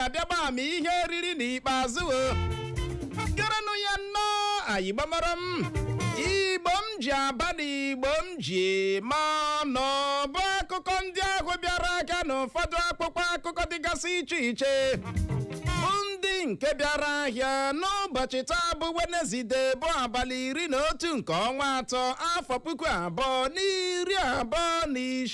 abịa gba ama ihe oriri n'ikpeazụ o gerenụ ya nnọọ igbo mụrụ m igbo m ji aba na igbo m ji ma nọ ọ bụ akụkọ ndị ahụ bịara ahịa n'ụfọdụ akpụkpọ akụkọ dịgasị iche iche bụ ndị nke bịara ahịa n'ụbọchị taa bụ wenezide bụ abalị iri na otu nke ọnwa atọ afọ puku abụọ na iri abụọ na isii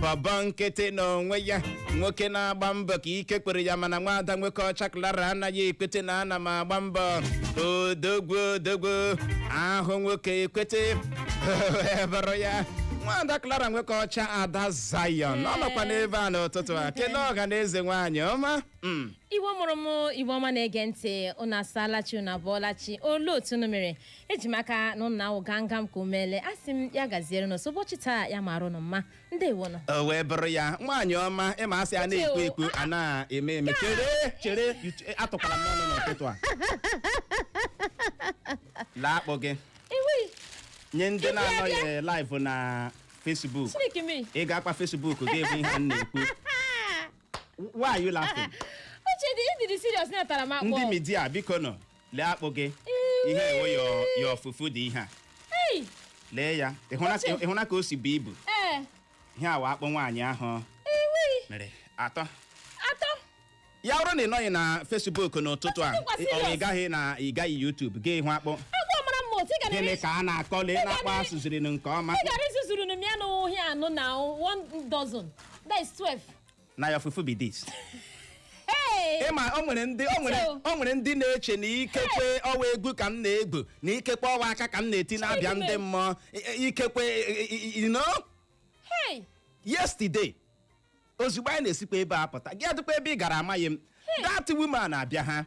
bọbọ nkịtị n'onwe ya nwoke na-agba mbọ ka ike kwere ya mana nwaada nwoke ọcha klara anaghị ekwete na ana m agba mbọ odogwu odogwu ahụ nwoke ekwete wee bụrụ ya nwaada klara nwoke ọcha ada zayon ọ nọkwa n'ebe a n'ụtụtụ a kelee ọha na eze nwaanyị ọma Mm. igbo mụrụ m igbo ọma na-ege ntị unu asaala chi unu abụọla chi olee otu unu mere eji m aka na ụnụ ahụ gangam ka umele a sị m ya gaziere n'ọsọ ụbọchị taa ya mara ụnụ mma ndewo nọ o wee bụrụ ya nwaanyị ọma ị ma a sị a na-ekwu Uche o. ekwu a na-eme eme chere chere you ch- atụkwala m n'ọnụ n'ụtụtụ a lee akpụ gị iwi nye ndị na-anọghị live na Facebook chineke mmiri ị ga-akpa Facebook gị bụ ihe m na-ekwu why are you laughing uche dị ịdịrị serious natara m akpụ ndị media biko nọ lee akpụ gị ihe ewo yo- your fufu dị ihe a Ei, lee ya ị hụla ka- ị hụla ka o si bu ibu ee, ihe awa akpụ nwaanyị ahụ iwi, mere atọ atọ. ya bụrụ na ị nọghị na Facebook n'ụtụtụ a Ọtụtụ kwa ị- ọ serious. ị gaghị na ị gaghị YouTube ga hụ akpụ Agwọ mara mma otu ị gara gịnị ka a na-akọ lee na akpụ a sụziri nke ọma ị gara izuzuru m ya n'ụhịa anụ na one dozen. That is 12. na your fufu be this Hey! ị ma o nwere ndị o nwere Chito. o nwere ndị na-eche na ikekwe ọwa egwu ka m na-egwu na ikekwe ọwa aka ka m na-eti na-abịa ndị Chidime. mmụọ I- i- ikekwe i- i- you know Hey! yesterday ozugbo anyị na-esikwa ebe a pụta gị adịkwa ebe ị gara amaghị m that woman abịa ha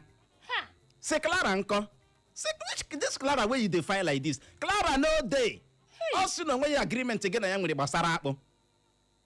Ha! sị clara nkọ sị "Which- this clara wey you dey find like this clara no dey ọ sị na o nweghị agreement gị na ya nwere gbasara akpụ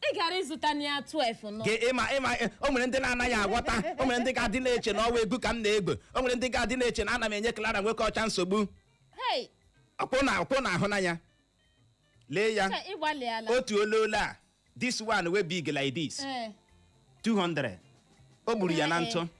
ị gara ịzụta na ya 12 nọ Gị ị ma ị ma ị- o nwere ndị na-anaghị agwọta o nwere ndị ga-adị na-eche na ọwa egwu ka m na-egwu o nwere ndị ga-adị na-eche na ana m enye Clara nwoke ọcha nsogbu hei ọ kwa ụnụ ọ kwa ụnụ ahụna ya lee ya ka ị gbalịala otu ololo a this one wey big like this Ee, 200 o gburu ya na ntụ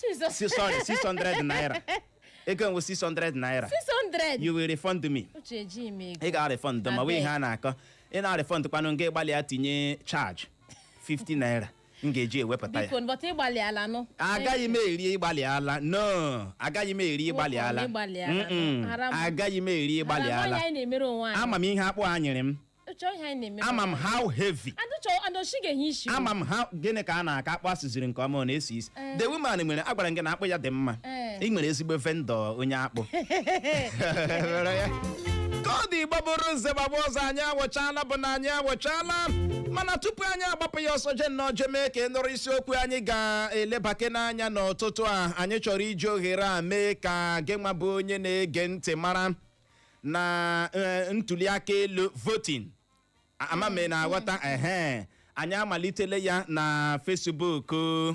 Jesus. Si- sorry 600 naira ego enwe 600 naira 600. you will refund me Uche ejighị m ego. ị ga-arefund m ọ wụ ihe a na-akọ ị na-arefund kwanụ nga ị gbalịa tinye charge 50 naira m ga-eji ewepụta ya Biko bọta ị gbalịala nụ. agaghị m eri ị gbalịala no agaghị m eri ị gbalịala Nwoke ọ na ị gbalịala? Mm-mm. Haram. agaghị m eri ị gbalịala Haram anyị na-emere onwe anyị. ama m ihe akpụ a nyere m chọọ ihe anyị na-eme ama m how heavy and chọọ and oshi ga-enye isi ama m ha gịnị ka a na-aka akpụ a sụziri nke ọma ọ na-esi isi the woman nwere agwara m gị na akpụ ya dị mma Eh. ị nwere ezigbo vendor onye akpụ Were ya. ka ọ dị igbo bụrụ nze gbagba ọzọ anyị awụchala bụ na anyị awụchala mana tupu anyị agbapụ ya ọsọ jee nnọọ jee mee ka ị nụrụ isiokwu anyị ga-elebake n'anya n'ụtụtụ a anyị chọrọ iji ohere a mee ka gị nwa bụ onye na-ege ntị mara na eh, ntuli aka elu voting ama m ị na-aghọta ehe anyị amalitela ya na Facebook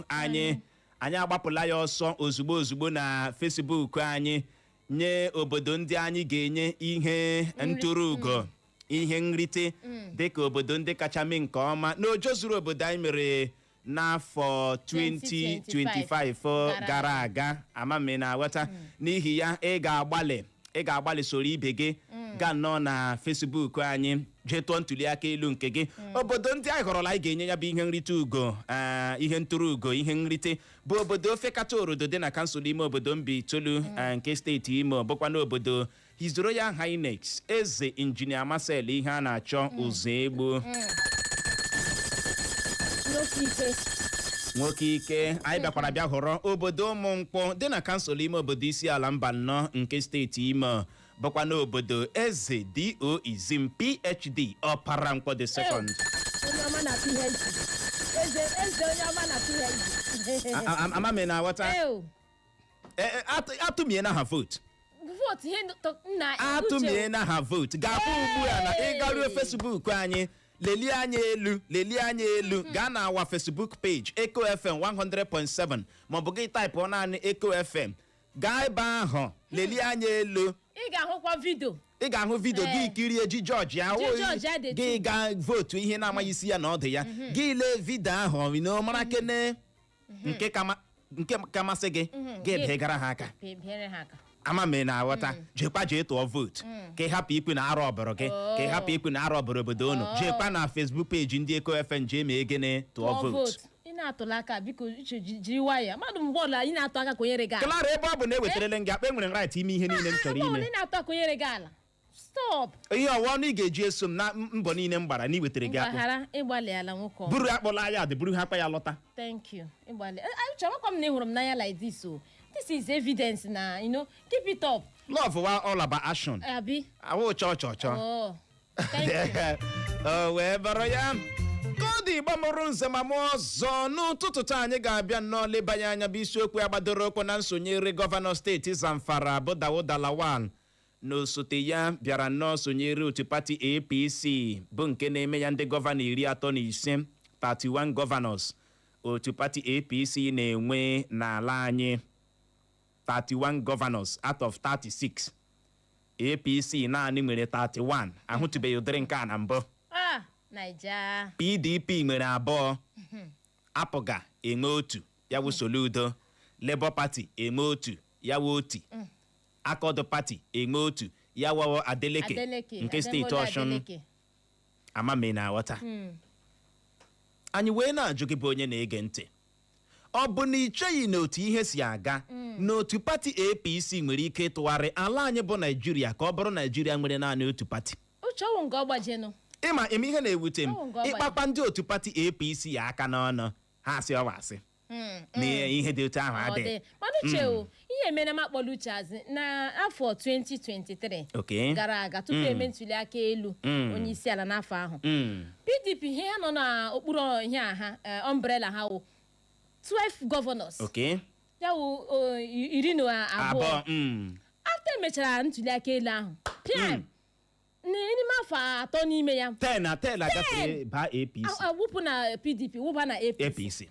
anyị anyị agbapụla ya ọsọ ozugbo ozugbo na Facebook anyị nye obodo ndị anyị ga-enye ihe ntụrụ ugo ihe nrite dịka obodo ndị kacha mee nke ọma na ojezuru obodo anyị mere n'afọ 2025 gara aga ama m ị na-aghọta n'ihi ya ị ga-agbalị ị ga-agbalị soro ibe gị gaa nnọọ na Facebook anyị jee tụọ ntuliaka elu nke gị obodo ndị anyị họrọla anyị ga-enye ya bụ ihe nrite ugo ee, ihe ntụrụ ugo ihe nrite bụ obodo Ofekata Orodo dị na kansụl ime obodo Mbaitolu ee, nke steeti Imo bụkwa n'obodo His Royal Highness Eze Injinia Marcel Iheanacho Uzoegbu Nwoke ike. nwoke ike anyị bịakwara bịa họrọ obodo Ụmụnkwọ dị na kansụl ime obodo Isiala Mbano nke steeti Imo bụkwa n'obodo Eze D.O. Izim PhD Ọpara Nkwọ the second Onye ọma na PhD. Eze eze onye ọma na PhD. A- a- ama m ị na-aghọta Ew. Eh, eh, atụ- atụmie na ha vootu vootu ihe dọ- nna uche atụmie na ha vootu ga-abụ ugbu a na ị garuo Facebook anyị lelie anya elu lelie anya elu gaa na our Facebook page Echo FM 100.7 maọbụ gị taịpụ naanị Echo FM gaa ebe ahụ lelie anya elu ị ga-ahụkwa vidio ị ga-ahụ vidio Ee. gị kirie ji judge ahụ Ji judge Adetibu. gị gaa vootu ihe ị na-amaghị isi ya na ọdụ ya gị lee vidio ahụ ị na mara kene nke ka ma- nke ka masị gị Mhm. gị ga-ebigara ha aka Pe- bịara ha aka ama m ị na-aghọta jekwa jee tụọ vootu ka ị hapụ ikwu na a rọbụrụ gị ka ị hapụ ikwu na a rọbụrụ obodo unu Oh. jekwa na Facebook page ndị Echo FM jee mee gịnị tụọ Tụọ vootu vootu. ị na-atụla aka biko uche ji- jiri nwayọọ mmadụ mgbe ọla ị na-atụ aka konyere gị ala Clara ebe ọ bụ na ewetarele m gị akpụ enwere m right ime ihe niile m chọrọ Mgbe ọbụla ime ị na-atụ aka konyere gị ala stop ihe ọ wụ ọnụ ị ga-eji eso m na m- mbọ niile m gbara na iwetara gị akpụ mgbaghara ị gbalịala nwoke ọma. buru akpọla anyị adị buru ha akpa ya lọta thank you ịgbalị Eh, ah, uche amakwa m na ị hụrụ m n'anya like this o this is evidence na you know keep it up love wụ all about action abi awụ cho cho cho oh thank you o wee bụrụ ya ka ọ dị Igbo mụrụ nze ma mụọ ọzọ n'ụtụtụ taa anyị ga-abịa nnọọ lebanye anya bụ isiokwu a gbadoro ụkwụ na nsonyere gọvanọ steeti Zamfara bụ Dauda Lawal na osote ya bịara nnọọ sonyere otu pati APC bụ nke na-eme ya ndị gọvanọ iri atọ na ise 31 gọvanọs otu pati APC na-enwe n'ala anyị 31 gọvanọs out of 36 APC naanị nwere 31 ahụtụbeghị ụdịrị nke a na mbụ Ah, Naija. PDP nwere abụọ APGA enwe otu ya wụ Soludo Labour Party enwe otu ya wụ Otti Accord Party enwe otu ya wụ Adeleke Adeleke nke steeti Adewole Ọshụn Adeleke. ama m ị na-aghọta Mm. anyị wee na-ajụ gị bụ onye na-ege ntị ọ bụ na ị cheghị na otu ihe si aga na otu pati apc nwere ike ịtụgharị ala anyị bụ naijiria ka ọ bụrụ naijiria nwere naanị otu pati Uche ọ wụ nke ọgbajenụ ịma ịma ihe na-ewute m Ọ bụ nke ọ ị kpakwa ndị otu pati apc aka n'ọnụ ha asị ọ wụ asị Mm, na ihe dị otu ahụ ọ adịghị dị mana Uche o ihe mere m akpọla uche azụ na afọ 2023 Okay. gara aga tupu e mee ntuli aka elu Mm. onye isi ala n'afọ ahụ Mm. pdp ihe ha nọ n'okpuru ihe a ha eh, umbrella ha wụ 12 governors Okay. ya wụ o, i- iri na abụọ abụọ mm. after e mechara ntuli aka elu ahụ pịam N- n'ime afọ atọ n'ime ya ten na ten agafere baa apc a- a- wụpụ na pdp wụba na apc apc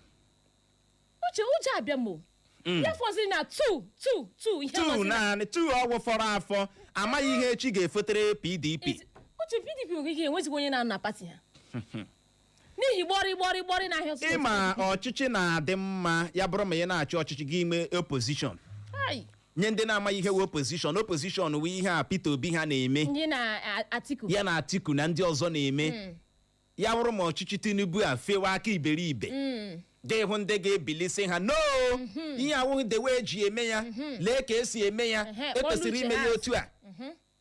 Uche Uche abịa m o ya fọziri na two two two ihe two fọziri na- naanị two ọ wụ fọrọ afọ amaghị ihe echi ga-efotere pdp Is- Uche pdp nwere ike enwezighị onye na-anọ na pati ha n'ihi gbọrị gbọrị gbọrị na ahịa ọsụsụ ịma ọchịchị na-adị mma ya bụrụ ma ị na-achị ọchịchị gị inwe opozishọn Ai, nye ndị na-amaghị ihe wụ opozishọn opozishọn wụ ihe a Peter Obi ha na-eme ndị na a- Atiku ya na Atiku na ndị ọzọ na-eme ya bụrụ ma ọchịchị Tinubu afewe aka iberibe Mm, ga-ịhụ ndị ga-ebili sị ha no ihe a awụghị the way e ji eme ya lee ka e si eme ya Ehe, e kwesịrị kpọrọ ime uche ya ha. otu a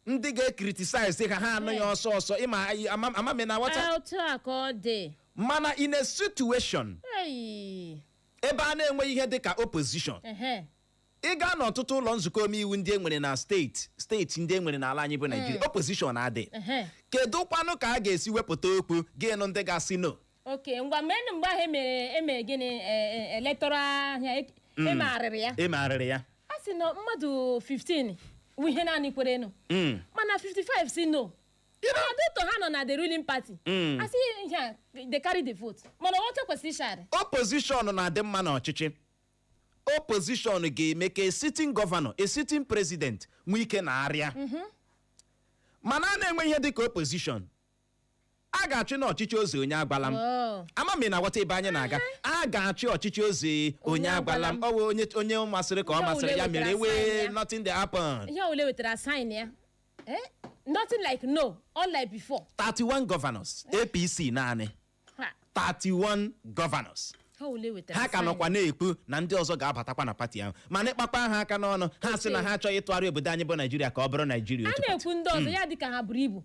ndị ga-ekritisaịz ha ha anụ ya ọsọ ọsọ ịma anyị- ama- ama m ị na-aghọta Ah, otu a ka ọ dị mana in a situation Ei, ebe a na-enweghị ihe dị ka opposition ehe. ị gaa n'ọtụtụ ụlọ nzukọ omeiwu ndị e nwere na steeti steeti ndị e nwere n'ala anyị bụ naijiria opposition adị Ehe. kedu kwanụ ka a ga-esi wepụta okwu gị anụ ndị ga-asị no okay ngwa mgbe nụ mgbe ahụ e mere e mere gịnị electoral ihe a e megharịrị ya e megharịrị ya a sị na mmadụ 15 wụ ihe naanị kwere nụ Mm. mana 55 sị no mana due to ha nọ na the ruling party Mm. a sị ihe a they carry the vote mana oche kwesịrị ịshari opposition na-adị mma n'ọchịchị opposition ga-eme ka a sitting governor a sitting president nwee ike na-arịa ama na a na-enwe ihe dịka opposition a ga-achị n'ọchịchị eze onye agwala m Oh. ama m ị na-aghọta ebe anyị na-aga a ga-achị ọchịchị eze onye agwala m ọ bụ onye masịrị ka ọ masịrị ya mere wee nothing dey happen ihe ole wetara sign ya Eh? nothing like no all like before 31 governors apc naanị 31 governors ha ka nọkwa na-ekwu na ndị ọzọ ga-abatakwa na pati ahụ mana ịkpakpa ha aka n'ọnụ ha sị na ha achọghị ịtụgharị obodo anyị bụ naijiria ka ọ bụrụ naijiria otu pati a na-ekwu ndị ọzọ ya dịka ha buru ibu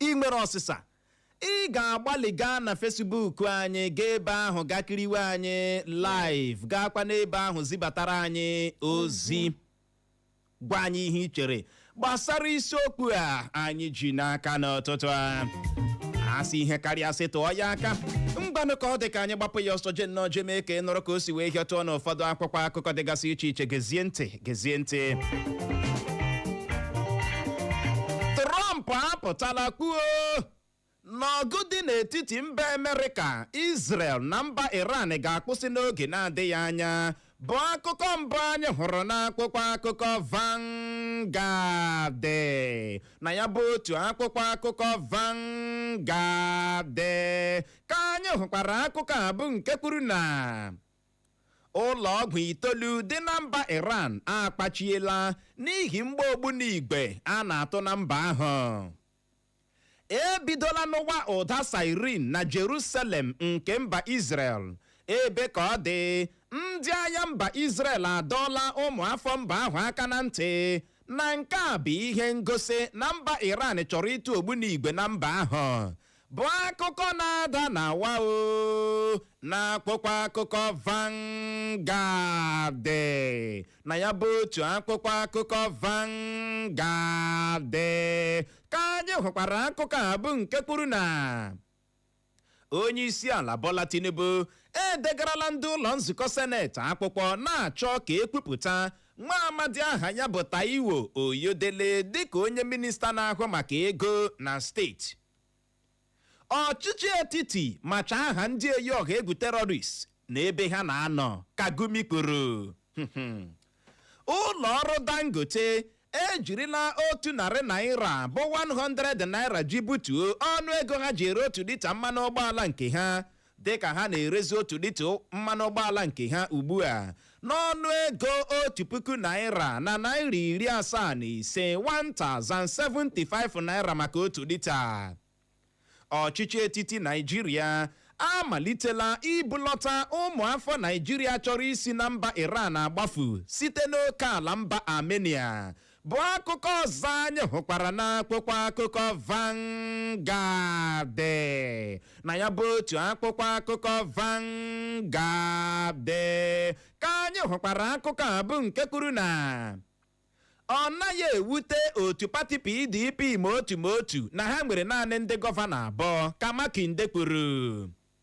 ị nwere ọsịsa ị ga-agbalị gaa na Facebook anyị gaa ebe ahụ gaa kiriwe anyị live gaakwa n'ebe ahụ zibatara anyị ozi gwa anyị ihe ị chere gbasara isiokwu a anyị ji n'aka n'ụtụtụ a a sị ihe karịa sị tụọ ya aka ngwanụ ka ọ dị ka anyị gbapụ ya ọsọ je nnọọ je mee ka ị nụrụ ka o si wee hịọtụọ n'ụfọdụ akwụkwọ akụkọ dịgasị iche iche gezie ntị trump apụtala kwuo na ọgụ dị n'etiti mba amerịka israel na mba iran ga-akwụsị n'oge na-adịghị anya bụ akụkọ mbụ anyị hụrụ n'akwụkwọ akụkọ Vanguard na ya bụ otu akwụkwọ akụkọ Vanguard ka anyị hụkwara akụkọ a bụ nke kwuru na ụlọ ọgwụ itoolu dị na mba iran akpachiela n'ihi mgba ogbunigwe a na-atụ na mba ahụ e bidola nụwa ụda siren na jerusalem nke mba israel ebe ka ọ dị ndị agha mba israel adọọla ụmụafọ mba ahụ aka na ntị na nke a bụ ihe ngosi na mba iran chọrọ ịtụ ogbunigwe na mba ahụ bụ akụkọ na-ada na wa o n'akwụkwọ akụkọ Vanguard na ya bụ otu akwụkwọ akụkọ Vanguard ka anyị hụkwara akụkọ a bụ nke kwuru na onye isi ala Bola Tinubu edegarala ndị ụlọ nzukọ seneti akwụkwọ na-achọ ka e kwupụta nwa amadi aha ya bụ Taiwo Oyedele dịka onye minista na-ahụ maka ego na steeti ọchịchị etiti macha aha ndị eyi ọha egwu terọrist na ebe ha na-anọ ka Gumi kwuru ụlọ ọrụ Dangote ejirila otu narị naira bụ 100 naira ji butuo ọnụ ego ha ji ere otu lita mmanụ ụgbọala nke ha dịka ha na-erezi otu lita mmanụ ụgbọala nke ha ugbu a n'ọnụ ego otu puku naira na naira iri asaa na ise 1075 naira maka otu lita ọchịchị etiti naijiria amalitela ibulọta ụmụafọ naijiria chọrọ isi na mba iran agbafu site n'oke ala mba armenia bụ akụkọ ọzọ anyị hụkwara n'akwụkwọ akụkọ Vanguard na ya bụ otu akwụkwọ akụkọ Vanguard ka anyị hụkwara akụkọ a bụ nke kwuru na ọ naghị ewute otu pati PDP ma otu ma otu na ha nwere naanị ndị gọvanọ abụọ ka Makinde kwuru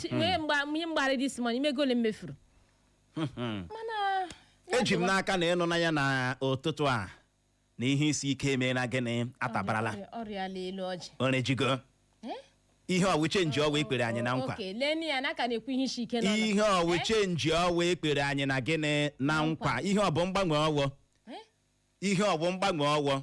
Chi- wee mgbe ihe mgbarị this morning ị ma ego ole m mefuru mana ya eji m dịwa. n'aka na ị nụna ya na ụtụtụ a na ihe isi ike emeela gịnị atabarala Ọrịa- ọrịa ala elu ọjị orejigo Eh? ihe ọ wụ change ọwa ekpere anyị na nkwa oke leni ya na aka na-ekwu ihe isi ike n'ọnụ. ihe ọ wụ Eh? change ọwa ekpere anyị na gịnị na nkwa ihe ọ bụ mgbanwe ọwọ Eh? ihe ọ bụ mgbanwe ọwọ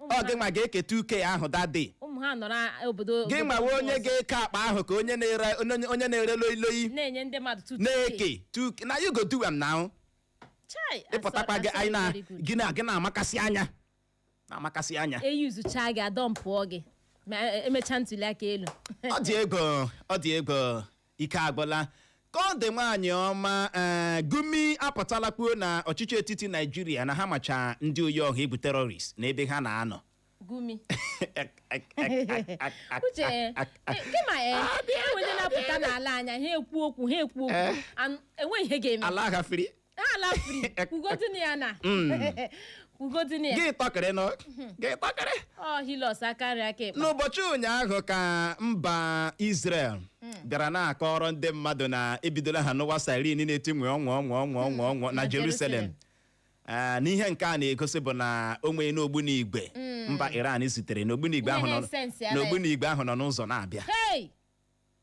ọ gị nwa ga-eke two k ahụ that day ụmụ ha nọ n'obodo gị obodo nwa wụ onye ọzọ, ga-eke akpa ahụ ka onye na-ere onye- onye na-ere loi loi na-enye ndị mmadụ two two na-eke two k na you go do am now chai ịpụtakwa gị anyị na gị na gị na-amakasị anya na-amakasị anya eyuzucha gị adọmpụọ gị ma e- emechaa ntuli aka elu ọ dị egwu ọ dị egwu ike agwụla ka ọ dị nwaanyị ọma ee gumi apụtala kwuo na ọchịchị etiti naijiria na ha macha ndị oyi ọha egwu terrorist na ebe ha na-anọ gumi uche eh, kema eh, e nwere ndị na-apụta n'ala anyị a ha ekwu okwu ha ekwu okwu an- enweghị ihe ga-eme ala ha free ala free kwugodin ya na Mm. kwugodin ya gị tọkịrị nụ gị tọkịrị ọ hilos aka nri aka ekpe n'ụbọchị ụnyaahụ ka mba Israel bịara na-akọrọ ndị mmadụ na ebidola ha nụwa siren na-eti nwee ọnwa ọnwa ọnwa ọnwa ọnwa na Na Jerusalem Jerusalem. Ah, na ihe nke a na-egosi bụ na o nwere ogbunigwe mba Iran zitere n'ogbunigwe Ihe ahụ nọ na-esensi ala ya. n'ogbunigwe ahụ nọ n'ụzọ na-abịa hei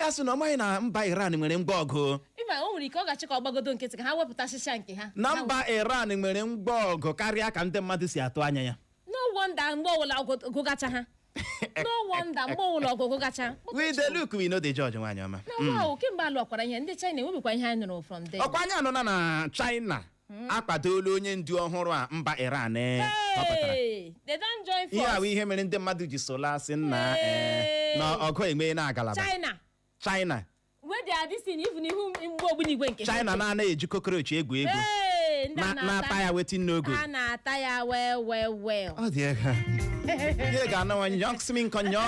ya sị na ọ maghị na mba iran nwere ngwa ọgụ ịma o nwere ike ọ ga-achọ ka ọ gbagodo nkịtị ka ha wepụtachịcha nke ha na mba iran nwere ngwa ọgụ karịa ka ndị mmadụ si atụ anya ya no wonder mgbe ọwụla ọgụ- gụgacha ha no wonder mgbe ọwụla ọgụ gụgacha we dey look we no dey judge nwaanyị ọma na ọwa ahụ kemgbe alụwakwara ihe ndị china enwebikwa ihe anyị nụrụ from them ọkwa anyị anụna na china akwadola onye ndu ọhụrụ a mba Iran eh, họpụtara Hey, they don join ihe a bụ force. ihe mere ndị mmadụ ji sola asị nna eh, Hey. na ọgụ enwe na agalaba China. China Where they are this thing, even ihu mgbe ogbunigwe nke ha. China na-anaghị eji cockroach egwu egwu Hey, ndị a na- na-ata ya wetin n'ogo A na-ata ya well well well. ọ dị egwu ihe ga-anụwa nyọksmin kọnyọ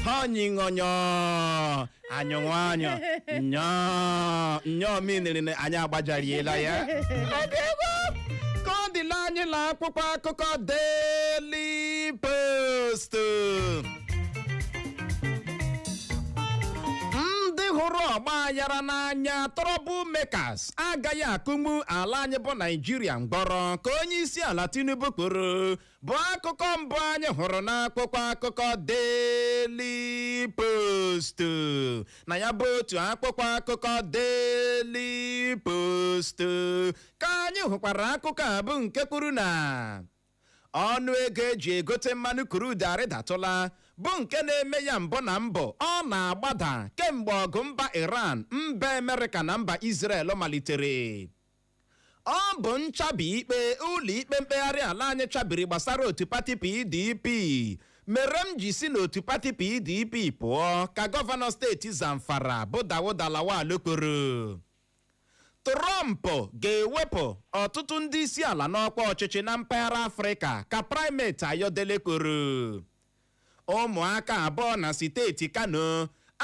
ha ọnyịṅọnyọ anyị nwa anyị nyọọ nyọọ miniri na anyị agbajariela ya ka ọ dịla anyị na akwụkwọ akụkọ Daily Post ndị hụrụ ọgba aghara n'anya trouble makers agaghị akụmu ala anyị bụ naijiria mgbọrọ ka onye isi ala tinubu kwuru bụ akụkọ mbụ anyị hụrụ n'akwụkwọ akụkọ Daily Post na ya bụ otu akwụkwọ akụkọ Daily Post ka anyị hụkwara akụkọ a bụ nke kwuru na ọnụ ego eji egote mmanụ crude arịdatụla bụ nke na-eme ya mbụ na mbụ ọ na-agbada kemgbe ọgụ mba Iran mba Amerịka na mba Israel malitere Ọ bụ nchabi ikpe ụlọikpe mkpegharị ala anyị chabiri gbasara otu pati PDP mere m ji si n'otu pati PDP pụọ ka gọvanọ steeti Zamfara bụ Dauda Lawal kwuru. Trump ga-ewepụ ọtụtụ ndị isi ala n'ọkwa ọchịchị na mpaghara Afrịka ka primate Ayodele kwuru. Ụmụaka abụọ na siteeti Kano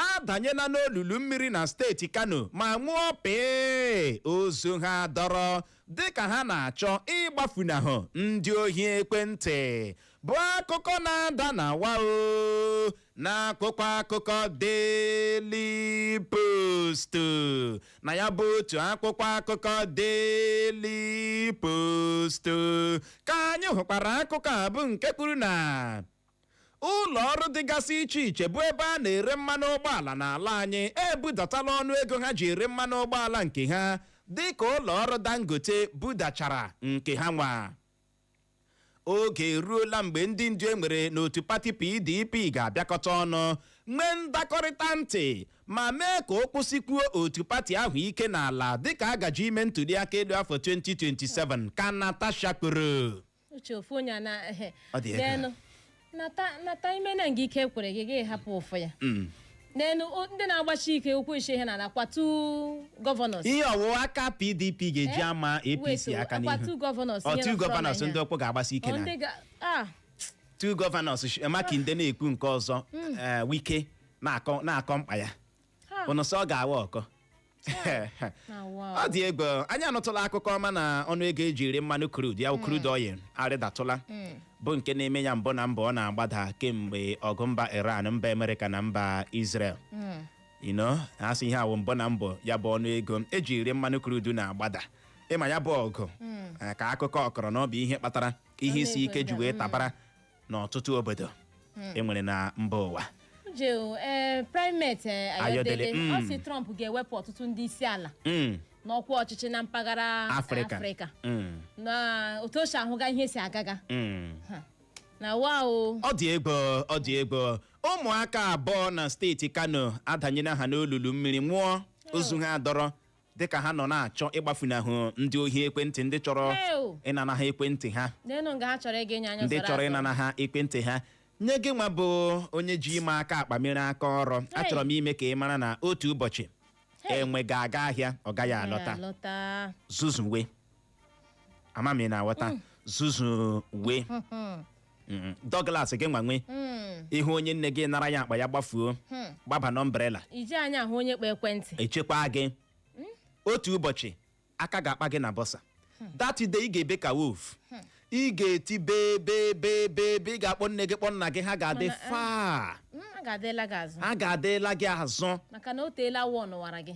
adanyela n'olulu mmiri na steeti Kano ma nwụọ pịị ozu ha adọrọ dịka ha na-achọ ịgbafunahụ ndị ohi ekwentị bụ akụkọ na-ada na wao n'akwụkwọ akụkọ Daily Post na ya bụ otu akwụkwọ akụkọ Daily Post ka anyị hụkwara akụkọ a bụ nke kwuru na ụlọ ọrụ dịgasị iche iche bụ ebe a na-ere mmanụ ụgbọala n'ala anyị ebudatala ọnụ ego ha ji ere mmanụ ụgbọala nke ha dịka ụlọ ọrụ Dangote budachara nke ha nwa oge eruola mgbe ndị ndu e nwere n'otu pati pdp ga-abịakọta ọnụ nwee ndakọrịta ntị ma mee ka ụkwụ sikwuo otu pati ahụ ike n'ala dịka a gaje ime ntuliaka elu afọ 2027 ka natasha kwuru uche ofu onye a na Ọ dị egwu. n'elu nata ime na nke ike kwere gị gị hapụ ụfụ ya mm. n'elu ndị na-agbachi ike ụkwụ ishe ihe na kwa two governors ihe ọwụwa aka pdp ga-eji eh? ama apc aka n'ihu o two governors ndị ọkpụ ga-agbasi ike na two governors makinde na-ekwu nke ọzọ hmm. eh, wike na-akọ mkpa ya unu sị ọ ga-awa ọkọ ọ dị egwu anyị anụtụla akụkọ ọma na ọnụ ego eji ere mmanụ crude ya crude oil arịdatụla bụ nke na-eme ya mbụ na mbụ ọ na-agbada kemgbe ọgụ mba iran mba amerịka na mba israel ino a sị ihe a wụ mbụ na mbụ ya bụ ọnụ ego eji ere mmanụ crude na-agbada ị ma ya bụ ọgụ ka akụkọ kọrọ na ọ bụ ihe kpatara ihe isi ike ji wee tabara n'ọtụtụ obodo e nwere na mba ụwa jeo ee primate ee, Ayọdele, ayọdele mm. ọ si trump ga-ewepụ ọtụtụ ndị isi ala Mm, n'ọkwa ọchịchị na mpaghara afrịka afrịka Mm, na otu o si ahụga ihe si agaga mm. Ha. na wa o ọ dị egwu ọ dị egwu ụmụaka abụọ na steeti kano adanyela ha n'olulu mmiri nwụọ ozu ha adọrọ dịka ha nọ na-achọ ịgbafunahụ ndị ohi ekwentị ndị chọrọ Ew. ịnana ha ekwentị ha n'enu nga ha chọrọ ịga enye anya ndị zara chọrọ azụ. ịnana ha ekwentị ha nye gị nwa bụ onye ji ime aka akpa mere aka ọrụ Hey. achọrọ m ime ka ị mara na otu ụbọchị Hey. enwe ga-aga ahịa ọ gaghị Agaghị alọta alọta zuzuwe ama m ị na-aghọta zuzuwe Mm, Douglas gị nwa nwa ị hụ onye nne gị nara ya akpa ya gbafuo gbaba n'ọmbrela ị ji anya ahụ onye kpa ekwentị echekwa gị otu ụbọchị aka ga-akpa gị na bọsa that day ị ga-ebe ka wolf ị ga-eti bee bee bee bee bee ị ga-akpọ nne gị kpọ nna gị ha ga-adị Mana, eh, far Mm, ha ga-adịla gị azụ ha ga-adịla gị azụ maka na o teela wọ n'ụwara gị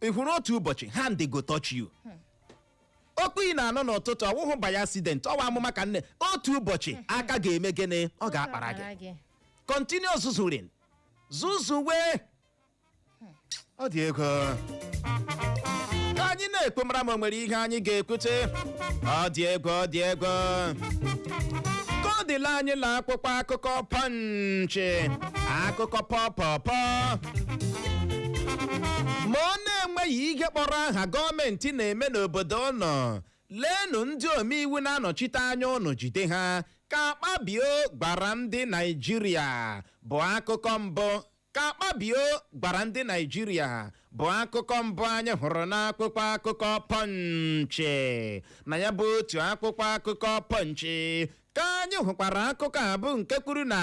ị hụrụ otu ụbọchị hand go touch you okwu ị na-anụ n'ụtụtụ ọ wụhụ by accident ọ wụ amụma ka nne otu ụbọchị aka ga-eme gịnị ọ ga-akpara gị gị continue zuzurin zuzuwe ọ dị egwu ka anyị na-ekwu mara ma o nwere ihe anyị ga-ekwute ọ dị egwu ọ dị egwu ka ọ dịla anyị la akwụkwọ akụkọ pọnchị akụkọ pọpọpọ ma ọ na-enweghị ihe kpọrọ aha gọọmenti na-eme n'obodo ụnụ leenụ ndị omeiwu na-anọchite anya ụnụ jide ha ka akpabio gwara ndị naijiria bụ akụkọ mbụ ka akpabio gwara ndị naijiria bụ akụkọ mbụ anyị hụrụ n'akwụkwọ akụkọ pọnchị na ya bụ otu akwụkwọ akụkọ pọnchị ka anyị hụkwara akụkọ a bụ nke kwuru na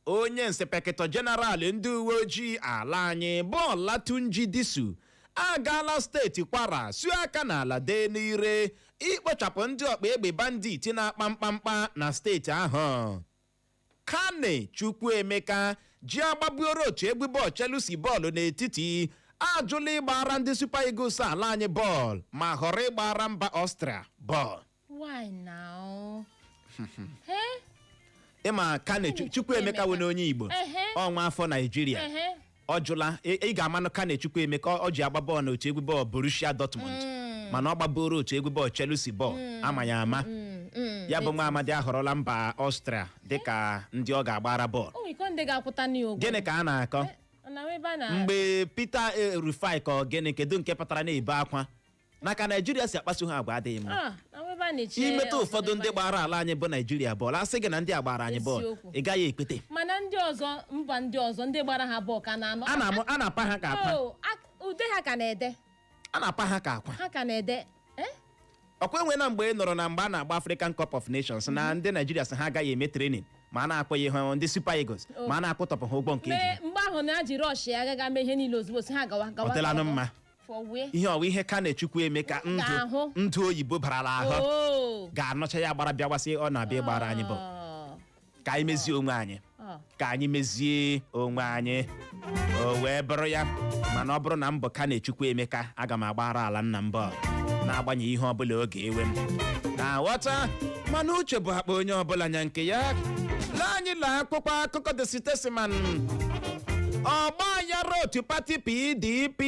onye nsepekịtọ jeneral ndị uwe ojii ala anyị bụ Olatunji Disu agaala steeti kwara suo aka n'ala dee n'ire ikpochapụ ndị ọkpa egbe bandit na-akpa mkpamkpa na steeti ahụ carney chukwuemeka ji agbabuoro otu egwu bọọlụ Chelsea bọọlụ n'etiti ajụla ịgbara ndị Super Eagles ala anyị bọọlụ ma họrọ ịgbara mba Austria bọọlụ why now Eh, ị ma carney Chu- chukwuemeka wụnụ onye igbo Ehe. ọ nwa afọ naijiria ehe. ọ jụla ị ị ga-amanụ carney chukwuemeka ọ- ọ ji agba bọọlụ n'otu egwu bọọlụ borussia dortmund mana ọ gbaburu otu egwu bọọlụ chelsea bọọlụ ama m ya ama Mm, mm. ya bụ nwa amadi ahọrọla mba ọstria dịka ndị ọ ga-agbara bọọlụ o nwere ike ndị ga-akwụta ya ụgwọ gịnị ka a na-akọ na ebe a na mgbe peter eh, rufai ka ọ gịnị kedu nke pụtara na-ebe akwa na ka naijiria si akpaso ha agwa adịghị mma Ah, na ebe a na-eche imetụ ọzọ ụfọdụ ebe ndị a- gbara ala anyị bụ naijiria bọọlụ asị gị na ndị a gbara anyị bọọlụ Eziokwu. ị gaghị ekwete mana ndị ọzọ mba ndị ọzọ ndị gbara ha bọọlụ ka na-anọ a na-amụ- a na-apa ha ka akwa Oh, ak- ude ha ka na-ede a na-apa ha ka akwa ha ka na-ede eh? ọkwa enwena mgbe ị nụrụ na mgbe a na-agba African Cup of Nations na ndị Naijiria sị ha agaghị eme training ma a na-akwụghị ha ndị Super Eagles ma a na-akwụtọpụ ha ụgwọ nke mee eji mgbe ahụ na-eji rush ya agaghị mee ihe niile ozugbo si ha gawa gawa ọ dịlanụ gawa. mma for where ihe ọwa ihe Carney Chukwuemeka ndụ Ga-ahụ. ndụ oyibo barala ahụ oh ga-anọcha ya gbara bịawa sị ọ na-abịa ịgbara anyị bọọlụ Oh. ka anyị mezie onwe anyị Oh. ka anyị mezie onwe anyị o wee bụrụ ya mana ọ bụrụ na m bụ Carney Chukwuemeka aga m agbara ala nna m bọọlụ na-agbanyeghị ihe ọbụla ọ ga-ewe m na-aghọta mana uche bụ akpa onye ọbụla nya nke ya lee anyị lee akwụkwọ akụkọ The Statesman ọgba aghara otu pati pdp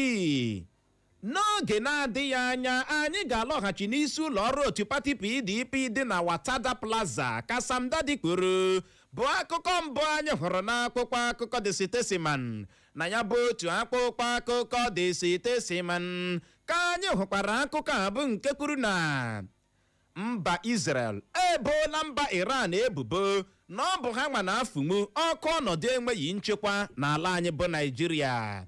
n'oge na-adịghị anya anyị ga-alọghachi n'isi ụlọ ọrụ otu pati pdp dị na watada plaza ka Samdaddy kwuru bụ akụkọ mbụ anyị hụrụ n'akwụkwọ akụkọ The Statesman na ya bụ otu akwụkwọ akụkọ The Statesman ka anyị hụkwara akụkọ a bụ nke kwuru na mba Israel eboola mba Iran ebubo na ọ bụ ha nwa na-afụnwu ọkụ ọnọdụ enweghị nchekwa n'ala anyị bụ Naịjirịa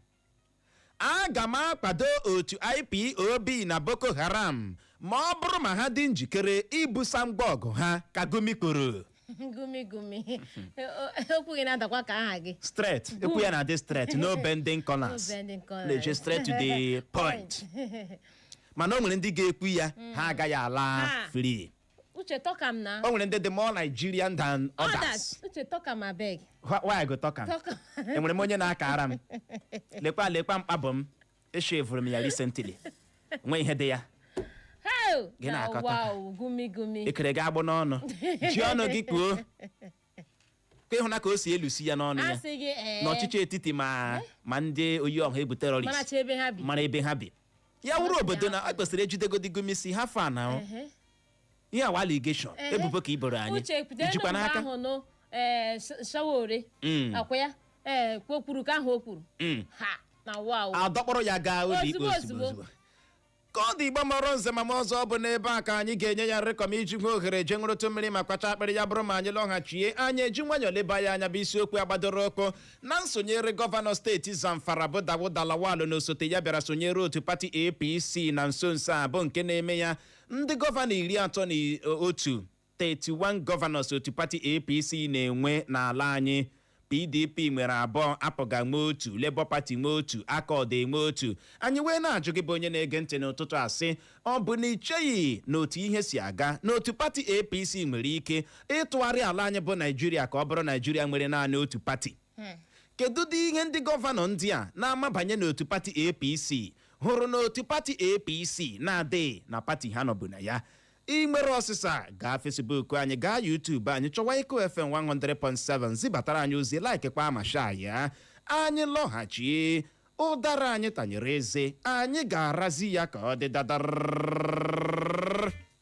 aga m akwado otu IPOB na Boko Haram ma ọ bụrụ ma ha dị njikere ibusa ngwa ọgụ ha ka Gumi kwuru gumi gumi okwu gị na-adakwa ka aha gị straight e kwuo ya na-adị straight no bending corners No bending corners. na-eje straight to the point mana o nwere ndị ga-ekwu ya ha agaghị ala Ha. free uche talk am na o nwere ndị dị more Nigerian than others others uche talk am abeg Wh- why I go talk am? Talk am. enwere m onye na-akara m lekwa lekwa mkpabụ m eshevuru m ya recently o nweghị ihe dị ya Hell! Gị na-akọta. Na wow, gumi gumi. ekere gị agbụ n'ọnụ ji ọnụ gị kwuo ka ịhụna ka o si elusi ya n'ọnụ A ya sị gị ee. na ọchịchị etiti ma ma ndị oyi ọha egwu Mana terọrist chi ebe ha bi. mara ebe ha bi ya wụrụ obodo na a kwesịrị ijidegodi Gumi sị how far na Ehe. ihe a wụ allegation Ehe. ebubo ka i boro anyị uche kwudere ijikwa na mgbe n'aka ahụ nụ ee Sowore Mm. ọ kwa ya ee o kwuru ka ahụ o kwuru Mm. ha na wa o adọkpụrụ ya gaa ụlọ ikpe Ozugbo, ozugbo ozugbo. ozugbo ka ọ dị Igbo mụrụ nze mụọ ọzọ ọ bụ n'ebe a ka anyị ga-enye ya nrịkọm iji nwee ohere je ṅụrụtụ mmiri ma kwachaa akpịrị ya bụrụ ma anyị lọghachie anyị eji nwayọọ leba ya anya bụ isiokwu a gbadoro ụkwụ na nsonyere gọvanọ steeti zamfara bụ Dauda Lawal na osote ya bịara sonyere otu pati apc na nso nso a bụ nke na-eme ya ndị gọvanọ iri atọ na i- otu 31 gọvanọs otu pati apc na-enwe n'ala anyị pdp nwere abụọ apga nwe otu labour party nwe otu accord enwe otu anyị wee na-ajụ gị bụ onye na-ege ntị n'ụtụtụ a sị ọ bụ na icheghị na otu ihe si aga na otu pati apc nwere ike ịtụgharị ala anyị bụ naijiria ka ọ bụrụ naijiria nwere naanị otu pati kedu ụdị ihe ndị gọvanọ ndị a na-amabanye n'otu pati apc hụrụ na otu pati apc na-adịghị na pati ha nọbu na ya ị nwere ọsịsa gaa facebook anyị gaa youtube anyị chọwa eko fm 100.7 zibatara anyị ozi like kwa ma share ya anyị lọghachi ụdara anyị tanyere eze anyị ga-arazi ya ka ọ dị dadar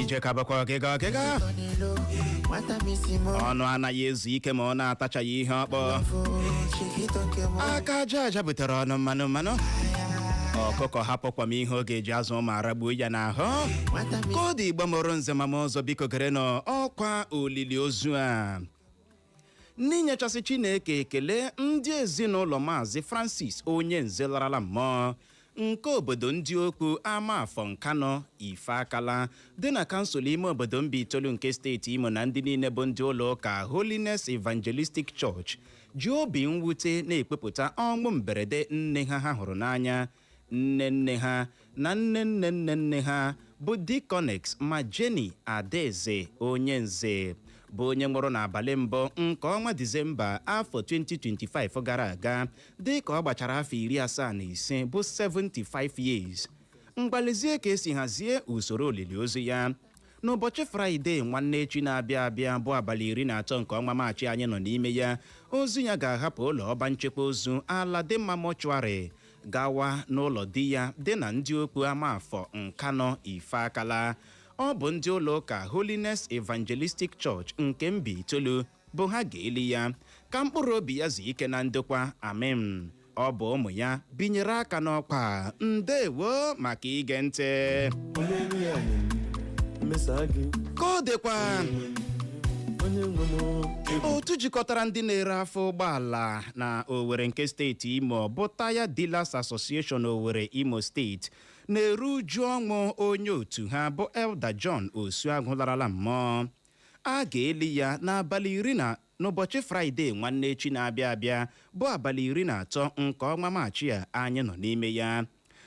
ije ka bụkwa ọgịga ọgịga ọnụ anaghị ezu ike ma ọ na-atachaghị ihe ọ kpụ aka aja aja butere ọnụ mmanụ mmanụ ọkụkọ hapụ kwọm ihe ọ ga-eji azụ ụmụ aragbuo ya n'ahụ ka ọ dị igbo mụrụ nze ma mụọ ọzọ biko gerenụ ọkwa olili ozu a n'inyechasị chineke ekele ndị ezinụlọ maazị francis onyenze larala mmụọ nke obodo ndị okwu amafọ nkanụ ifakala dị na kansụl ime obodo mbaitolu nke steeti imo na ndị niile bụ ndị ụlọ ụka holiness evangelistic church ji obi mwute na-ekwupụta ọnwụ mberede nne ha ha hụrụ n'anya nne nne ha na nne nne nne nne ha bụ Deaconess Ma Jenny Adaeze Onyenze bụ onye nwụrụ n'abalị mbụ nke ọnwa Disemba afọ 2025 gara aga dịka ọ gbachara afọ iri asaa na ise bụ 75 years ngwa lezie ka e si hazie usoro olili ozu ya n'ụbọchị fraịde nwanne echi na-abịa abịa bụ abalị iri na atọ nke ọnwa maachị anyị nọ n'ime ya ozu ya ga-ahapụ ụlọ ọba nchekwa ozu aladinma mortuary gawa n'ụlọ di ya dị na ndị okwu amafọ nkanụ ifakala ọ bụ ndị ụlọ ụka holiness evangelistic church nke mbaitolu bụ ha ga-eli ya ka mkpụrụ obi ya zuo ike na ndokwa amen ọ bụ ụmụ ya binyere aka n'ọkwa ndewo maka ige ntị onye nwe ya nye m mmesa gị ka ọ dịkwa onye nwe m o. otu jikọtara ndị na-ere afọ ụgbọala na Owerri nke steeti Imo bụ Tyre Dealers Association Owerri Imo steeti na-eru uju ọnwụ onye otu ha bụ Elder John Osuagwu larala mmụọ a ga-eli ya n'abalị iri na n'ụbọchị fraịde nwanne echi na-abịa abịa bụ abalị iri na atọ nke ọnwa maachị a anyị nọ n'ime ya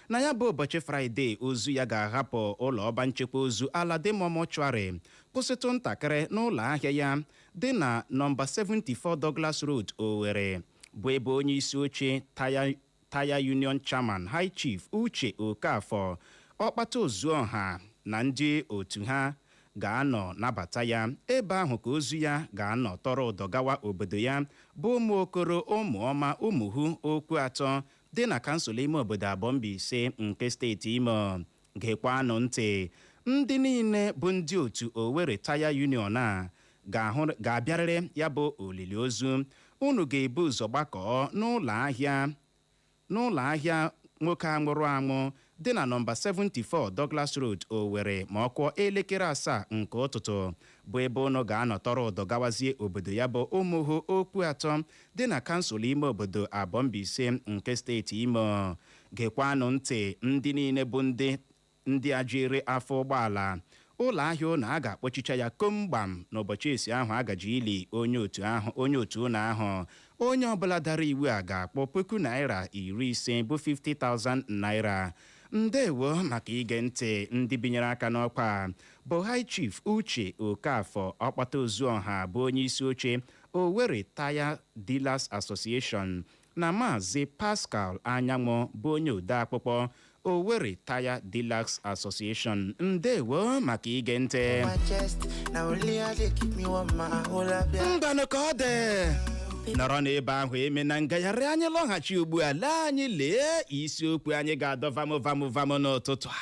na ya bụ ụbọchị fraịde ozu ya ga-ahapụ ụlọ ọba nchekwa ozu Aladinma mortuary kwụsịtụ ntakịrị n'ụlọ ahịa ya dị na nọmba 74 Douglas Road Owerri bụ ebe onye isi oche Tire Union Chairman High Chief Uche Okafor Ọkpata Ozuọha na ndị otu ha ga-anọ nabata ya. Ebe ahụ ka ozu ya ga-anọ tọrọ ụdọ gawa obodo ya bụ Ụmụokoro Ụmụọma Ụmụhu Okwuatọ dị na kansụl ime obodo Abọ Mbaise nke steeti Imo. Gekwanụ ntị! Ndị niile bụ ndị otu Owerri Tire Union a ga-abịarịrị ya bụ olili ozu. Unu ga-ebu ụzọ gbakọọ n'ụlọ ahịa nwoke a nwụrụ anwụ dị na nọmba 74 Douglas Road, Owerri ma ọ kụọ elekere asaa nke ụtụtụ bụ ebe unu ga-anọ tọrọ ụdọ gawazie obodo ya bụ Ụmụhu Okwuatọ dị na kansụl ime obodo Abọ Mbaise nke steeti Imo. Gekwanụ ntị ndị niile bụ ndị ndị a ji ere afọ ụgbọala ụlọ ahịa ụnụ a ga-akpọchicha ya komgbam n'ụbọchị esi ahụ a gaji ili onye otu ụnụ ahụ onye ọbụla dara iwu a ga-akwụ puku naira iri ise bụ 50,000 naira ndewo maka ige ntị ndị binyere aka n'ọkwa a bụ high chief uche okafọ ọkpata ozuọha bụ onye isi oche owerri tire dealers association na Maazị Pascal Anyanwụ bụ onye odeakwụkwọ Owerri Tire Dealers Association. Ndewo maka ige ntị. my chest. Now only I dey keep me warm, my whole up, yeah. Ngwanụ ka ọ dị. Nọrọ n'ebe ahụ emena ngagharị anyị lọghachi ugbu a lee anyị lee isiokwu anyị ga-adọ vamụ vamụ vamụ n'ụtụtụ a.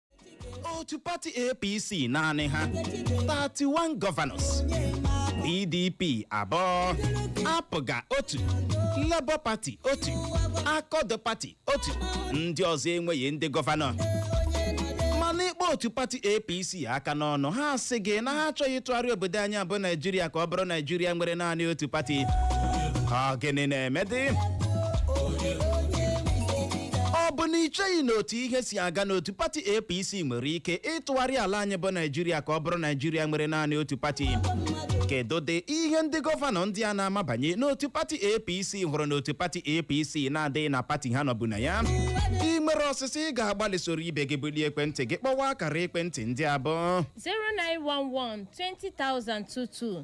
otu pati apc naanị ha 31 governors pdp abụọ apga otu labour pati otu accord pati otu ndị ọzọ enweghị ndị gọvanọ mana ị kpọ otu pati apc aka n'ọnụ ha asị gị na ha achọghị ịtụgharị obodo anyị a bụ naijiria ka ọ bụrụ naijiria nwere naanị otu pati ọ gịnị na-emedị ọ bụ na i cheghị na otu ihe si aga na otu pati APC nwere ike ịtụgharị ala anyị bụ Naijiria ka ọ bụrụ Naijiria nwere naanị otu pati kedudị ihe ndị gọvanọ ndị a na-amabanye n'otu pati APC hụrụ n'otu pati APC na-adịghị na pati ha nọbu na ya i nwere ọsịsa ị ga-agbalị soro ibe gị bulie ekwentị gị kpọwa akara ekwentị ndị a bụ 0911 20022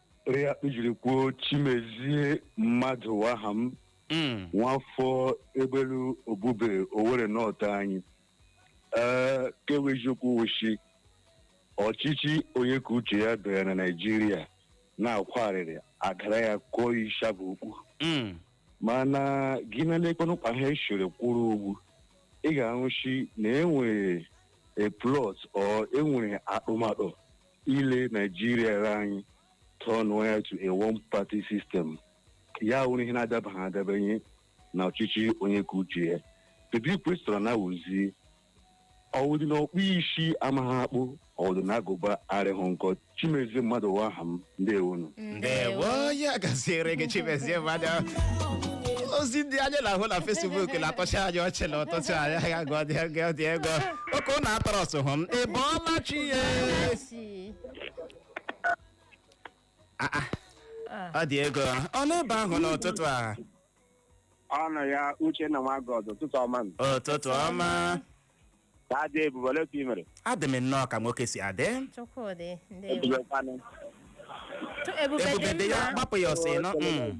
Ere ya kpejiri kwuo Chimezie Madụ wụ aha m Mm. nwafọ Egbelu Obube Owerri North anyị ee ke wụ eziokwu wụshi ọchịchị onye ka uche ya bịara na naijiria na-akwa arịrị agara ya kụọ isha bụ okwu Mm. mana gị na lekwanụkwa ha eshere kwụrụ ugbu ị ga-ahụshi na e nwere a plot or e nwere atụmatụ ile naijiria anyị tọnụọ ya to a one party system ya wụrụ ihe na-adabaghị adabanye na ọchịchị onye kaa uche ya kedu kwesịrị na ọ wụzi ọ wụdị na ọkpụ isi amaghị akpụ ọ wụdị na agụba arịghị nkọ chimezie mmadụ wụ aha m ndewonu ndewo ya gaziere gị chimezie mmadụ ozi ndị anyị na-ahụ na Facebook na-atọcha anyị ọchị na ụtụtụ a anyị ga-agụ ọ dị ego dị ego oke ụnụ atọrọ ọsụ hụ m ị bọọla chi ya Isi. Ah, ah. ọ dị ego ọ n'ebe ahụ n'ụtụtụ a ọnụ ya Uchenna nwa God ụtụtụ ọma nụ. ụtụtụ ọma ka adị ebube ole ka ị mere adị m nnọọ ka nwoke si adị Chukwudị, ndewo. ebube kwanụ Chu- Ebube ebube dị dị ya mma. gbapụ ya ọsọ ịnọ mm.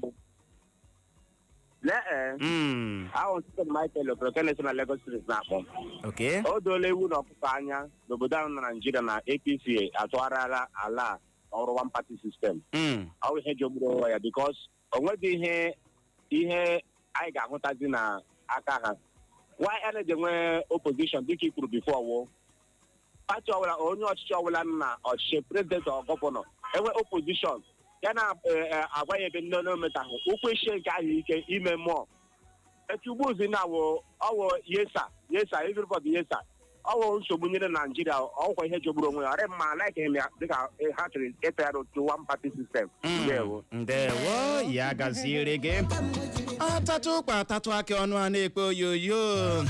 Lee ee, Mm, ahụ ntụtụ Michael Okereke na Lagos Street na-akpọ m. okay. O doola ewu na ọkụkọ anya n'obodo ahụ na Naịjirịa na APC atụgharịala ala a ọ wụrụ one party system. Mm, Ọ bụ ihe jogburu onwe ya because o nweghị ihe ihe anyị ga-ahụtazi na aka ha. Why a na-eji nwee opposition dịka i kwuru before wụ pati ọbụla onye ọchịchị ọbụla nọ na ọchịchị president or governor enwe opposition ya na-agwa ya ebe ndị ọ na-emetahụ ọ kwụsie nke ahụ ike ime mmụọ etu ugbuzi na ọ wụ ọ wụ yes sir yes sir everybody yes sir ọ wụ nsogbu nyere naijiria ọ wụkwa ihe jogburu onwe ya ọ rịghị mma like him ya dịka eh, ha chọrọ ịtụgharị to one party system Mm. ndewo ndewo ya gaziere gị atatụ ụkpa atatụ akị ọnụ a na-ekpe oyoyo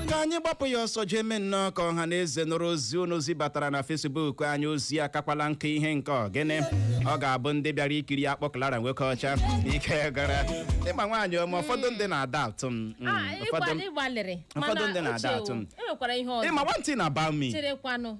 ka anyị gbapụ ya ọsọ jee mee nnọọ ka ọha na eze nụrụ ozi unu zibatara na Facebook anyị ozi akakwala nke ihe nke ọ gịnị ọ ga-abụ ndị bịara ikiri akpụ Clara nwoke ọcha ike gara ịma nwaanyị ọma ụfọdụ ndị na-ada atụ m mm, Ah, ụfọdụ ịgbalị- ịgbalịrị ụfọdụ ndị mana na-ada uche atụ m. o, enwekwara ihe ọzọ ịma one thing about me cherekwanụ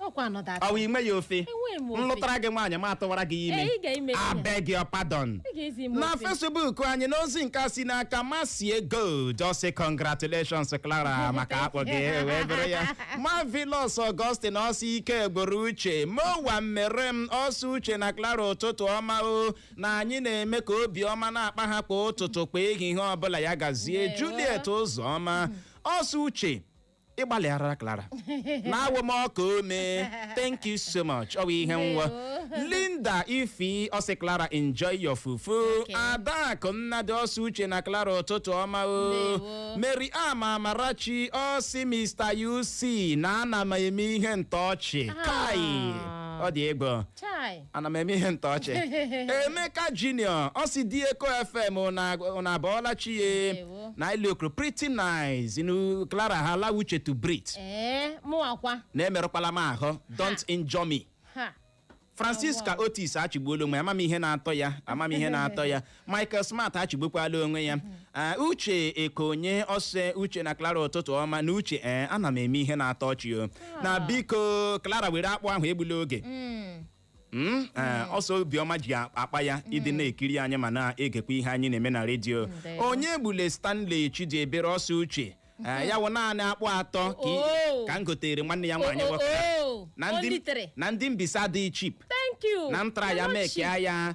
ọkwa anọda atọ. ọ wụ i nwe ya ofe Enweghị m ofe. m lụtara gị nwaanyị ma atụwara gị ime Ee, ị ga-eme ihe. I beg your pardon Ị ga-ezi m na ofe. Facebook anyị n'ozi nke a si n'aka Mercy Gold ọ sị congratulations clara maka akpụ gị wee bụrụ ya Marvelous Augustine ọ sị ike gwụrụ uche mowa mmere m ọ sị uche na clara ụtụtụ ọma o na anyị na-eme ka obi ọma na-akpa ha kwa ụtụtụ kwa ehihie ọbụla ya gazie Ndewo. juliet ụzọma ọ sị uche ị gbalịara Clara na-awụ m ọka ome thank you so much ọ bụ ihe nwa Ndewo. Linda Ify ọ sị Clara enjoy your fufu Okay. Adakụ Nnadị ọ sị uche na Clara ụtụtụ ọma o Ndewo. Maryam Amarachi ọ sị Mr. UC na ana m eme ihe ntọọchị kai Ah. ọ dị egwu Chai. ana m eme ihe ntọ ọchị emeka junior ọ sị di eko fm ụnụ abọọla chi ya Ndewo. na iliokro pretty nice inu clara allow uche to breathe ee mụwakwa na emerụkwala m ahụ don't injure me ha francisca otis achịgbuola onwe ya ama m ihe na-atọ ya ama m ihe na-atọ ya michael smart achịgbukwala onwe ya Ah, uche ekonye ọ sị uche na clara ụtụtụ ọma na uche ee ana m eme ihe na-atọ ọchị o na biko clara were akpụ ahụ egbula oge Mm, eh, ọ sị obiọma ji akpa ya ị dị na-ekiri anyị ma na-egekwa ihe anyị na-eme na redio Ndewo. onyegbule stanley chidiebere ọ sị uche Eh, ya wụ naanị akpụ atọ ka i- Oh. ka m gotere nwanne ya nwaanyị Oh, oh, nwoke oh. na ndị Only three. na ndị mbaise dị cheap Thank you. na ntra ya Hello, mekea ya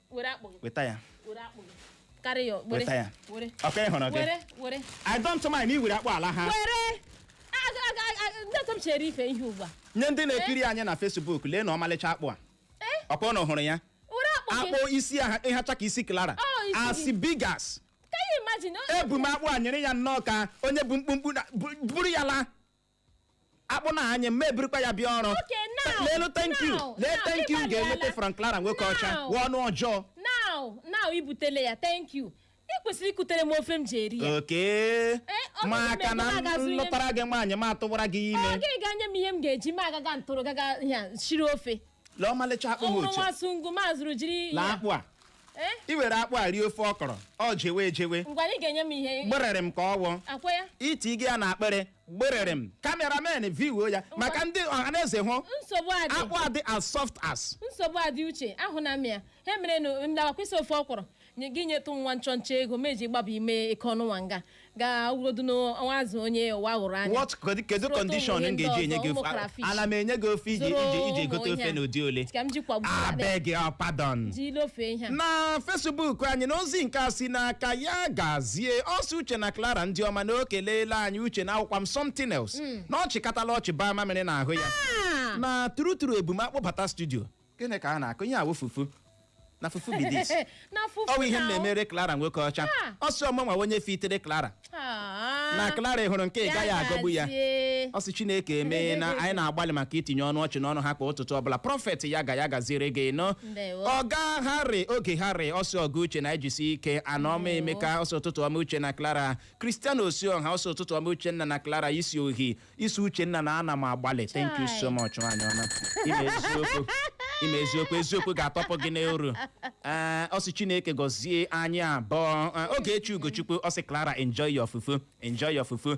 were akpụ gị weta ya were akpụ gị karị ya were Weta ya. were ọka ị hụrụ gị were were i don't mind na i were akpụ a laa were A- a- a- a- a- ndị ọtọ m chere ife ihe ugbu a nye ndị na-ekiri anyị na Facebook leenụ ọmalịcha akpụ a Eh? ọ kwa ụnụ hụrụ ya were akpụ gị akpụ isi hacha ka isi Clara Oh, isi as gị. big as can you imagine o- ebu m akpụ a nyere ya nnọọ ka onye bụ mkpumkpu na- bu- buru ya laa akpụ na-anyị ma ebirikwa ya bịa ọrụ Okay, now, leenụ thank you now, lee now, thank you ị ga-enweta gbalịala. from Clara nwoke ọcha Now. wụ ọnụ ọjọọ now now i butele ya thank you ị kwesịrị ikutere m ofe m ji eri ya oke ọ bụ maka na na m na-agazu ihe m- lụtara gị nwaanyị ma tụwara gị ọ ime gịnị ga-enye m ihe m ga-eji ma agaga ntụrụ gaga ya shiri ofe lee ọmalịcha akpụ ọ ha bụrụ oche nwa sungu ma zụrụ jiri na ya akpụ a Eh, i were akpụ a rie ofe okro ọ jewe ejewe ngwa na ị ga-enye m ihe gberere m ka ọ wụọ akwa ya iti gị ya n'akpịrị gberere m cameraman viwuo ya maka ndị ọhaneze hụ nsogbu adị akpụ a dị as soft as nsogbu adị uche ahụ na mịa ha mere na ndawa kwesị ofe ọkwụrụ nye- gị nyetụ nwa nchọnchọ ego m eji gbaba ime eke ọnụnwa nga ga wurodu n'ọnwa azụ onye ụwa hụrụ anya what kedu- kedu Zụrụ condition ụmụ m ihe ndị ga-eji enye ọzọ, gị ụmụ ofe crayfish. ana m enye gị ofe iji Zụrụ iji iji ụmụ gote ihe ofe a. n'ụdị ole ka m ji kwagbu abeg oh, pardon ji ilofe ihe a na Facebook anyị na ozi nke a si n'aka yagazi tie ọ sị uche na clara ndị ọma na o keleela anyị uche na awụkwa m something else na ọ chịkatala ọchị baa mamịrị n'ahụ ya Ah! na true true ebu m akpụ bata studio gịnị ka a na-akụ ihe a wụ fufu na fufu be this na fufu ọ bụ ihe m na- na-emere clara nwoke ọcha Ah. ọ sị ọ mụnwa onye fitere clara Ah. na clara ị hụrụ nke ị gaghị agọgbu yagazie. ọ sị chineke emee na anyị na-agbalị maka itinye ọnụ ọchị n'ọnụ ha kwa ụtụtụ ọbụla prophet ya ga ya gaziere gị nọ Ndewo. ọga harry oge harry ọ sị ọga uche na-ejisi ike anọma emeka ọ sị ụtụtụ ọma uche na clara christian osioha ọ sị ụtụtụ ọma uchenna na clara ị sị oh ị sị uchenna na ana m agbalị thank you so much nwaanyị ọma ị ma eziokwu ị ma eziokwu eziokwu ga-atọpụ gị n'oru Ee, ọ sị chineke gọzie anyị abụọ Ee, ogechi ugochukwu ọ sị clara enjoy your fufu enjoy your fufu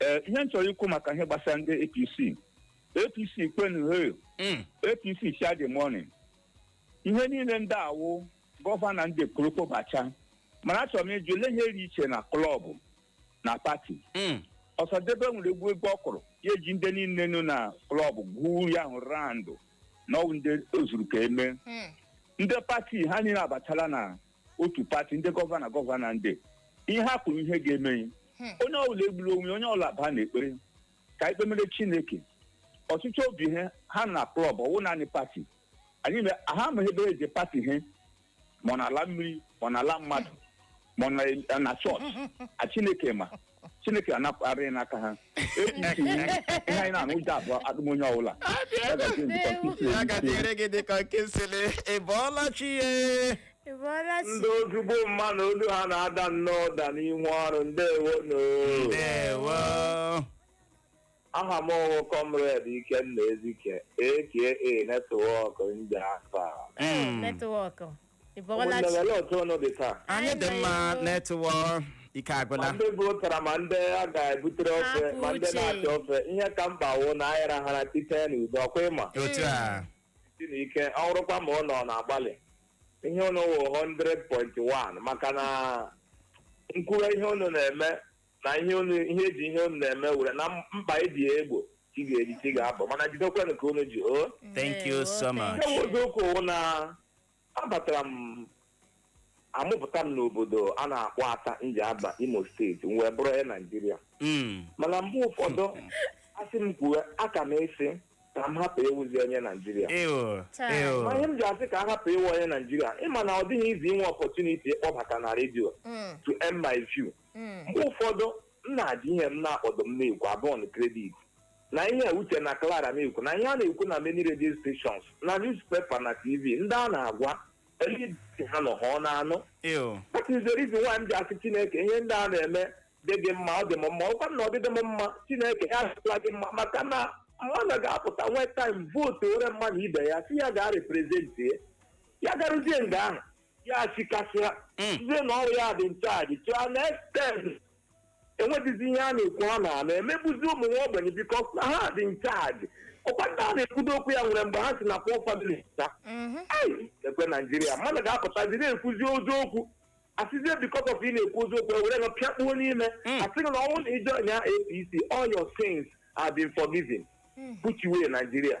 ee ihe m chọrọ ikwu maka ihe gbasara ndị apc apc kwenu he Mm. apc share the money ihe niile ndị a wụ gọvanọ ndị kwuru kpọbacha mana achọrọ m ịjụ ole ihe dị iche na klọb na pati Mm. ọsadebe nwere egwu egwu ọ kụrụ ya e ji ndị niile nọ na klọb gwuo ya ahụ randụ na ọ wụ ndị o zuru ka e mee ndị pati ha niile abatala na otu pati ndị gọvanọ gọvanọ ndị ihe ha kwuru ihe ga-eme ya Hmm. onye ọbụla egburu onwe ya, onye ọbụla baa n'ekpere ka anyị kpemere chineke ọchịchị obi ihe ha nọ na klọb ọ wụ naanị pati anyị me- ha amaghị ebe e ji pati ihe ma ọ na ala mmiri ma ọ na ala mmadụ ma ọ na- na chọọchị a chineke ma chineke anapụta anyị n'aka ha APC ihe anyị na-anụ ụjọ abụọ adịm onye ọbụla Ya gazie ndịkọ nkuzi ya ka dịrị gị dịka nke nsịlị ị bọọla chi ya Ị bọọla chi? ndị ozugbo mma na olu ha na-ada nnọọ ụda n'inwe ọrụ ndewo no ndewo aha m ọ wụ kọmred ikenna ezike aka netwọk ndị afa Mm. netwọk ị bọọla chi ụmụnne otu unu dị taa anyị dị mma Anyị netwọk ike agwụla ndị bu ụtara ma ndị a ga-ebutere ofe Hapụ ma ndị uche. na-achọ ofe ihe ka mkpa wụ na anyị rahara teta n'udo ọ kwa ị ma otu a si na ike ọ bụrụkwa ma ụnụ na-agbalị ihe ụnụ wụ 100.1 maka na m kwuwe ihe ụnụ na-eme na ihe unu ihe eji ihe unu na-eme were na mkpa e ji ya egbo chi ga-eji chi ga-abọ mana jidekwanụ ka unu ji o Thank you so much. nke bụ eziokwu wụ na abatara m a mụpụta m n'obodo a na-akpọ ata njaba imo steeti m wee bụrụ onye naijiria Mm. mana mgbe ụfọdụ a sị m kwuwe aka m asị ka m hapụ ịwụzi onye naijiria Ew. Chai. Ew. ma ihe m ji asị ka a hapụ ịwụ onye naijiria ị ma na ọ dịghị izi inwe ọpọtuniti ịkpọbata na redio Mm. to air my view mgbe ụfọdụ m na-asị ihe m na-akpọdụ m na-ekwu abọn kredit na ihe uche na clara na-ekwu na ihe a na-ekwu na many radio stations na newspaper na tv ndị a na-agwa eliti ha nọ ha ọ na-anụ Ew. that is the reason why m ji asị chineke ihe ndị a na-eme dị gị mma ọ dị m mma ọ kwa na ọ dịghị m mma chineke ya adịla gị mma maka na mmadụ ga-apụta nwee taim vootuoro mmadụ ibe ya sị ya gaa reprezentie ya garuzie nga ahụ ya chikasịa Mm. sịzie na ọ wụ ya dị in charge to an extent enwedịzi ihe a na-ekwu ha na a na-emegbuzi ụmụ nwa ogbenye bikos na ha dị in charge ọ kwa ndị a na-ekwudo okwu ya nwere mgbe ha si na poor family ta Mhm. Ai, ekwe naijiria mmadụ ga-apụtazi na-ekwuzi eziokwu a sịzie bikos of ị na-ekwu eziokwu e were gị pịakpuo n'ime Mm. a sị gị na ọ wụrụ na ị jọịnịa apc all your sins have been forgiven put away naijiria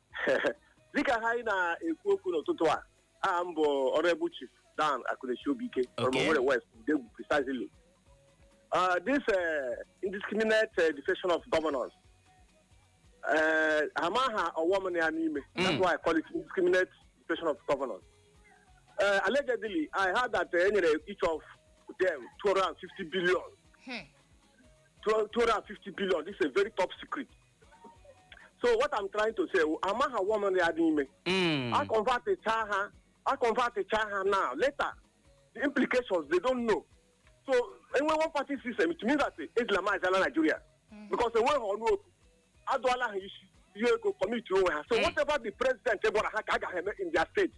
dịka ha anyị na-ekwu okwu n'ụtụtụ a aha m bụ honorable chief dan akunechi obike from Okay. Owerri west ndegwu precisely uh, this uh, indiscriminate uh, defection of governors uh, ha amaha ọghọm nọ ya n'ime that's why i call it indiscriminate defection of governors uh, allegedly i heard that uh, e nyere each of them 250 billion Hmm. 250 billion this is a very top secret so what i'm trying to say wụ, amaghị ọghọm nọ ya n'ime Mm. a converticha ha a converticha ha now later the implications they don't know so e nwee one party system it means that islamizala nigeria because enweghị ọnụ okwu adụọla ha isi ihe ego commit onwe ha so whatever the president gwara ha ka ha ga-eme in their state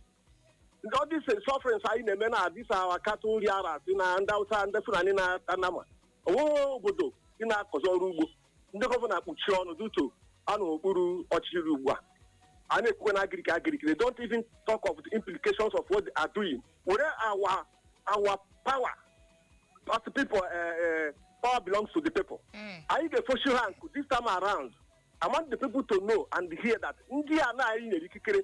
all these sufferings anyị na-eme na all these our cattle rearers na ndị awụsa ndị fulani na-ata nama o nweghị obodo dị na-akọzi ọrụ ugbo ndị gọvanọ akpuchie ọnụ due to ha nọ okpuru ọchịchị rị ugbu a a na-ekwukwe na agiriki agiriki they don't even talk of the implications of what they are doing were our our power as the people uh, uh, power belongs to the people Mm. anyị ga-efoshi ha nkụ this time around I want the people to know and hear that ndị a na anyị nyere ikikere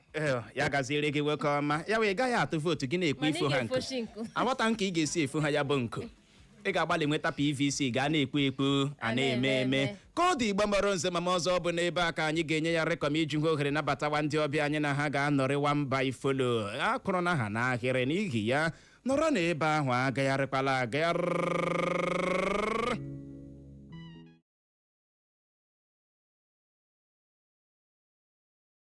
Ee, ya gaziere gị nwoke ọma ya wụ ị ga-aga atụ vootu gị na-ekwu Mana ị ifo ha nkụ ga-efochi nkụ. aghọta m ka ị ga-esi efu ha ya bụ nkụ ị ga-agbalị nweta pvc gị a na-ekwu ekwu a na-eme eme ka ọ dị igbo mọrọ nze mama ọzọ bụ n'ebe a ka anyị ga-enye ya rịkọm iji hụ ohere nabatawa ndị ọbịa anyị na ha ga-anọrịwa mba ifolo a kụrụ na ha n'ahịrị n'ihi ya nọrọ na ebe ahụ agagharịkwala agagharị